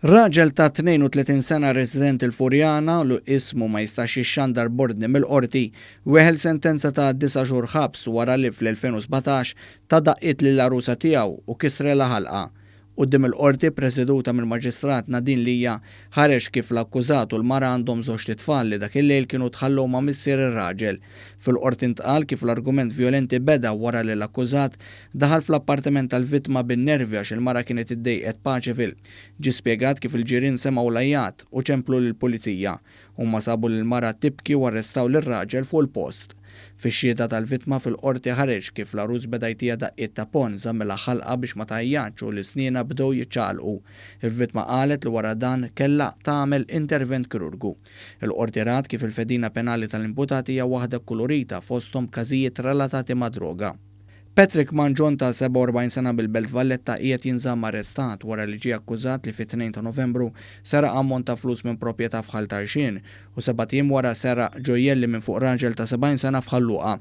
Raġel ta' 32 sena resident il-Furjana lu ismu ma jistax jixxandar b'ordni mill-qorti weħel sentenza ta' disa' xhur ħabs wara li fl-2017 ta daqqiet lill-għarusa tiegħu u kisrela ħalqha Quddiem il-Qorti, ppreseduta mill-Maġistrat Nadine Lia, ħareġ kif l-akkużat u l-mara għandhom żewġt itfal li dak il-lejl kienu tħallew ma' missier ir-raġel. Fil-Qorti ntqal kif l-argument vjolenti beda wara li l-akkużat daħal fl-appartiment tal-vittma bin-nervi għax il-mara kienet iddejqet paċi fil. Ġie spjegat kif il-ġirien semgħu l-għajjat u ċemplu lill-Pulizija. Huma sabu lill-mara tibki u arrestaw lir-raġel fuq il-post. Fix-xhieda tal-vittma fil-Qorti ħareġ kif l-għarus beda jtija daqqiet ta' ponn, żammilha ħalqha biex ma tgħajjatx u li snienha bdew jiċċaqalqu. Il-vittma qalet li wara dan kellha tagħmel intervent kirurgu. Il-Qorti rat kif il-fedina penali tal-imputati hija waħda kkulurita fosthom b'każijiet relatati mad-droga. Patrick Mangion ta' 47 sena mill-Belt Valletta qiegħed jinżamm arrestat wara li ġie akkużat li fit-Tnejn ta' Novembru seraq ammont ta' flus minn proprjetà f'Ħal Tarxien u sebat ijiem wara seraq ġojjelli minn fuq raġel ta' 70 sena f'Ħal Luqa.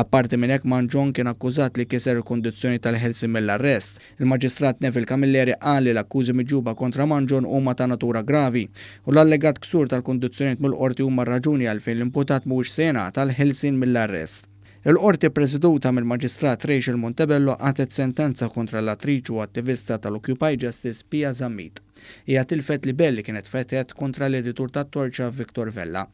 Apparti minn hekk Mangion kien akkużat li kiser il-kundizzjoni tal-ħelsien mill-arrest. Il-Maġistrat Neville Camilleri qal li l-akkużi miġjuba kontra Mangion huma ta' natura gravi u l-allegat ksur tal-kundizzjonijiet mill-Qorti huma r-raġuni għalfejn l-imputat mhuwiex se jingħata l-ħelsien mill-arrest. Il-Qorti ppresiduta mill-Maġistrat Rachel Montebello qagħtet sentenza kontra l-attriċ u attivista tal-Occupy Justice Pia Zammit. Hija tilfet libell li kienet fetħet kontra l-editur tat-Torċa Victor Vella.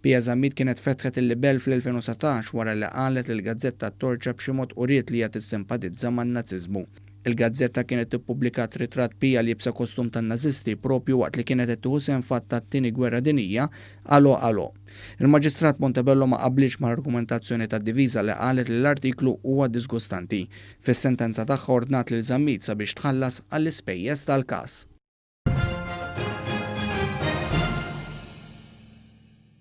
Pia Zammit kienet fetħet il-libell fl-2019 wara li qalet li l-gazzetta t-Torċa b'xi mod uriet li hija tissimpatizza man-Naziżmu. Il-gazzetta kienet ippubblikat ritratt b'hija liebsa kostum tan-Nażisti proprju waqt li kienet qed tieħu sehem f'att tat-Tieni Gwerra Dinjija, Allo Allo. Il-Maġistrat Montebello ma qablitx mal-argumentazzjoni tad-diviża li qalet li l-artiklu huwa diżgustanti. Fis-sentenza tagħha ordnat lil Zammit sabiex tħallas għall-ispejjeż tal-każ.